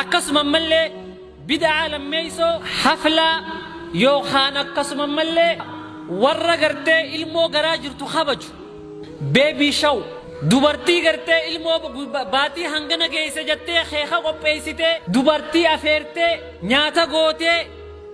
Akkasuma ammallee bid'aa lammeeysoo haflaa yookaan akkasuma ammallee warra gartee ilmoo garaa jirtu kabaju, baby show, dubartii gartee ilmoo baatii hangana geeyse jattee keeka qopheeysitee, dubartii afeertee, nyaata gootee,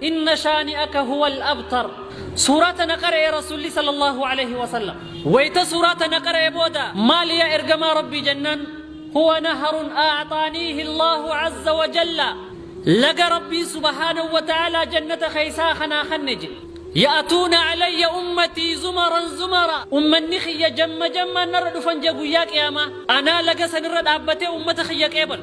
Inna shaani'aka huwal abtar. Suuraa tana qara'e Rasuulli sallallahu aleyhi wa sallam. Wayta suuraa tana qara'e booda maali yaa ergamaa Rabbii jennaan Huwa naharun a'xaaniihi Allaahu azza wa jalla Laga Rabbiin subhaanahu wa ta'aalaa jannata keeysaa ka naa kanne je. Ya'tuuna alayya ummatii zumaran zumara. Ummanni kiyya jamma jammaan narra dhufan je guyyaa qiyaamaa. Anaa laga sanirra dhaabbatee ummata kiyya qeebalu.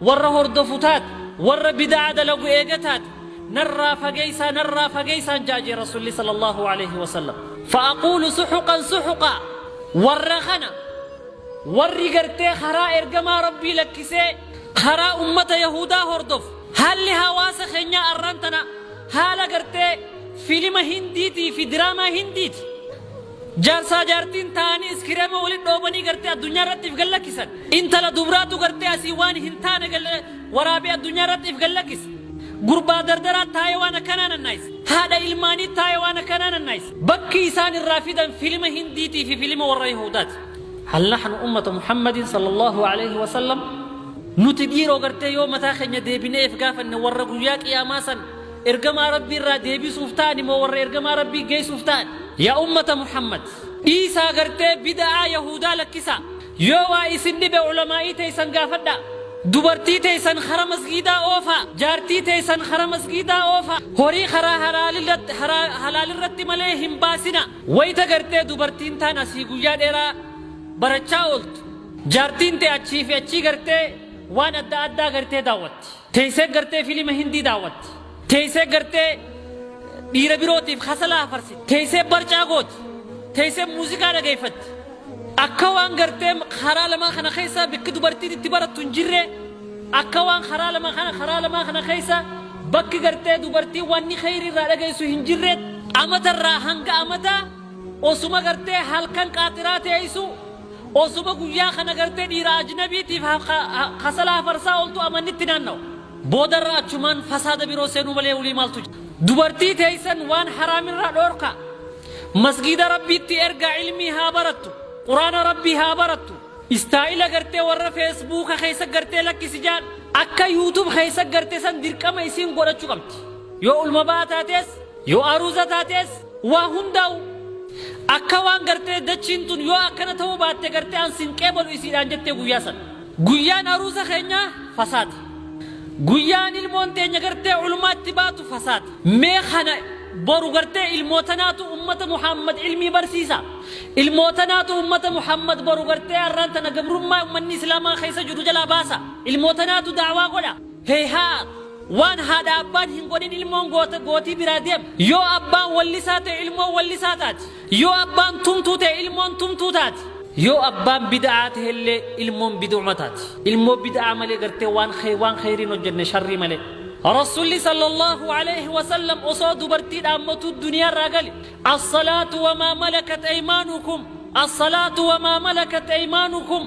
Warra hordofu taate, warra bida'aa dalagu eega taate, narraa fageeysaa, narraa fageeysaan ja'a jee Rasuulli sallallaahu aleeyhi wasallam. Fa aquulu suxuqan suxuqaa, warra kana, warri gartee karaa ergamaa Rabbii lakkisee, karaa ummata yahuudaa hordofu, haalli hawaasa keenyaa arraan tana, haala gartee filima hindiitii fi diraamaa hindiiti. Jaarsaa jaartiin taa'anii iskireema walitti dhoobanii gartee addunyaa irratti if gallakkisan. Intala dubraatu gartee asii waan hin taane waraabee addunyaa irratti if gallakkisa. Gurbaa dardaraa taa'ee waan akkanaa nannaayisa. Haadha ilmaanii taa'ee waan akkanaa nannaayisa. Bakki isaan irraa fidan filima Hindiitii fi filima warra Yihuudaati. Hal nahnu ummata Muhammadin sallallahu aleyhi wa sallam Nuti dhiiroo gartee yoo mataa keenya deebinee if gaafanne warra guyyaa qiyaamaa san Ergamaa Rabbii irraa deebisuuf ta'ani moo warra Ergamaa Rabbii geessuuf ta'ani? Yaa ummata Muhammad! Dhiisaa gartee bida'aa Yahuudaa lakkisaa. Yoo waa isin dhibe ulamaa'ii teessan gaafadhaa. Dubartii teessan kara masgiidaa oofaa. Jaartii teessan kara masgiidaa oofaa. Horii karaa halaalirratti, haraa, halaalirratti malee hin baasinaa. Wayta gartee dubartiin taan asii guyyaa dheeraa barachaa ooltu, jaartiin tee achii fi achii gartee waan adda addaa gartee daawwatti. Teessee gartee filima Hindii daawwatti. Teessee gartee dhiira birootiif hasalaa hafarsiti. Teessee barcaa gooti. Teessee muuziqaa dhageeffatti. Akka waan gartee karaa lamaa kana keessaa bakki dubartiin itti barattu hin jirre akka waan karaa lama kana karaa lamaa kana keessa bakki gartee dubartiin wanni kheyri irraa dhageessu hin jirre amata irraa hanga amataa osuma gartee halkan qaaxiraa teessu Osoma guyyaa kana gartee dhiira ajnabiitiif kasala hafarsaa ooltu amannitti naannawa. Boodarra achumaan fasaada biroo seenuu malee wly maaltu jira. Dubartii teeysan waan haraamirraa dhoorkaa. Masgiida Rabbiitti ergaa ilmii haa barattu. Quraana Rabbii haa barattu. Istaayila gartee warra feesbuuka keeysa gartee lakkisi jaan akka youtube keeysa garte san dirqama isiin godhachu qabdi. Yoo ulma ba'aa taatees. Yoo aruuza taatees waa hundaa'u akka waan gartee dachiin tun yoo akkana ta'uu baatte gartee an sin qeebalu isiidhaan jettee guyyaa san. Guyyaan aruuza keenyaa fasaada. Guyyaan ilmoon teenya gartee culmaatti baatu fasaada. Mee kana boru gartee ilmootanaatu ummata Muhaammad ilmii barsiisa. Ilmootanaatu ummata Muhaammad boru gartee arraan tana gabrummaa ummanni Islaamaa keessa jiru jalaa baasa. Ilmootanaatu da'awaa godha. Heyhaa! Waan haadha abbaan hin godhin ilmoon goota gootii biraa deema. Yoo abbaan wallisaa ta'e ilmoon wallisaa taati. Yoo abbaan tumtuu ta'e ilmoon tumtuu taati. Yoo abbaan bid'aa ta'ellee ilmoon bid'uma taati. Ilmoo bid'aa malee gartee waan khe waan kheyrii hin hojjenne sharrii malee. Rasuulli sallallahu aleyhi wa sallam osoo dubartii dhaammatuu duniyaarraa gale As-salaatu wa maa malakat aymaanukum As-salaatu wa maa malakat aymaanukum